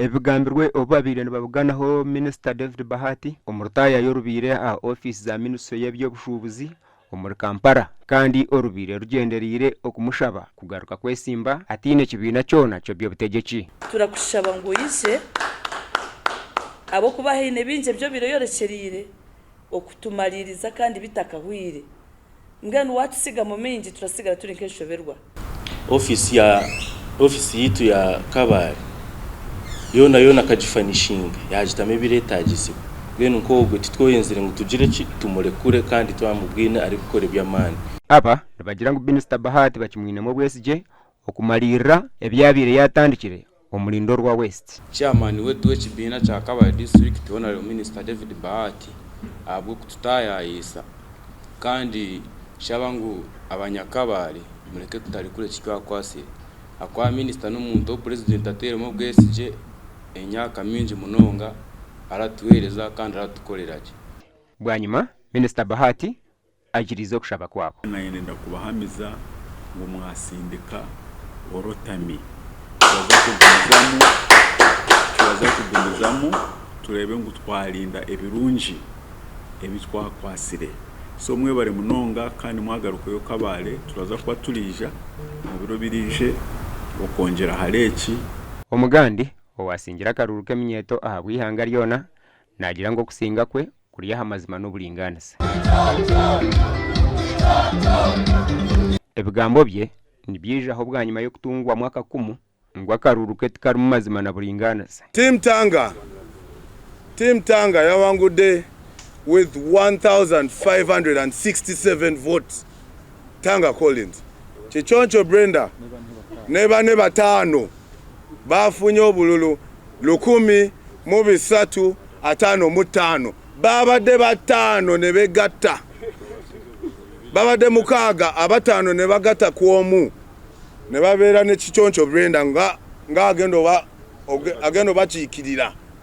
Ebigambirwe obu babaire nibabuganaho Minisita David Bahati omu rutaaya y'orubaire aha ofiisi za minisitule y'eby'obushuubuzi omuri Kampala kandi orubaire rugyendereire okumushaba kugaruka kwetsimba ataine kibiina kyona ky'eby'obutegyeki. Turakushaba ngu oije ahabw'okuba haine bingi ebi obaire oyorekyereire okutumariiriza kandi bitakahwaire Mbwenu waatutsigamu maingi turasigara turi nk'enshoberwa. Ofiisi ya ofiisi yaitu ya Kabale yoona yoona akagifanishinga, yaagitamu ebireetaagizibwa. Mbwenu nk'ogwo titwoyenzire ngu tugire ki? Tumurekure kandi twamubwine arikukora eby'amaani. Aba nibagira ngu Minisita Bahati bakimwinemu obwesigye okumariirira ebi yaabaire yaatandikire omuri Ndorwa West. Chairman wetu w'ekibiina kya Kabale District Honourable Minister David Bahati ahabw'okututayaayisa kandi nshaba ngu abanyakabale mureke tutarekura eki twakwatsire ahakuba Minister n'omuntu ou President ateiremu obwesigye emyaka mingi munonga aratuheereza kandi aratukorera gye. Bwanyima Minister Bahati Agiriize okushaba kwabo. Naayenda ndakubahaamiza ngu mwatsindika orotami. Turaza kugumizamu, turaza kugumizamu tureebe ngu twarinda ebirungi ebi twakwatsire. So mwebare munonga kandi mwagarukeyo kabaare turaza kuba turaija omu biro biraije okwongyera ahari eki. Omugandi owaatsingire akaruru k'eminyeeto ahabw'eihanga ryona naagira ngu okusinga kwe Kuri aha mazima n'oburingaaniza. Ebigambo bye nibyijaho bwanyima y'okutungwamu akakumu ngu akaruru ke tikarimu mazima na buringaaniza. Team Tanga Team Tanga yawangude with 1567 votes. Tanga Collins, Kiconco Brenda ne bane bataano baafunye obululu lukumi mu bisatu ataano mu taano baabadde bataano nibegatta baabadde mukaaga abataano nibagatta ku omu nibabeera ne Kiconco Brenda nga agenda obakiikirira.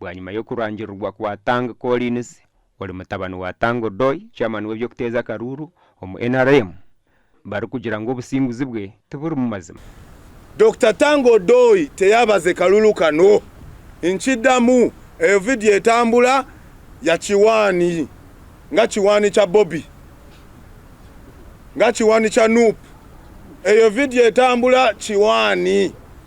bwanyima y'okurangirirwa kwa Tang Collins ori mutabani wa Tang Odoi, chairman w'eby'okuteeza akaruuru omu nrm, barikugira ngu obusinguzi bwe tiburimu mazima. Dokita Tang Odoi teyabaze kalulu kano. Nkidamu eyo vidiyo etambura ya kiwaani nga kiwaani kya Bobi, nga kiwaani kya Nup. Eyo vidiyo etambura kiwaani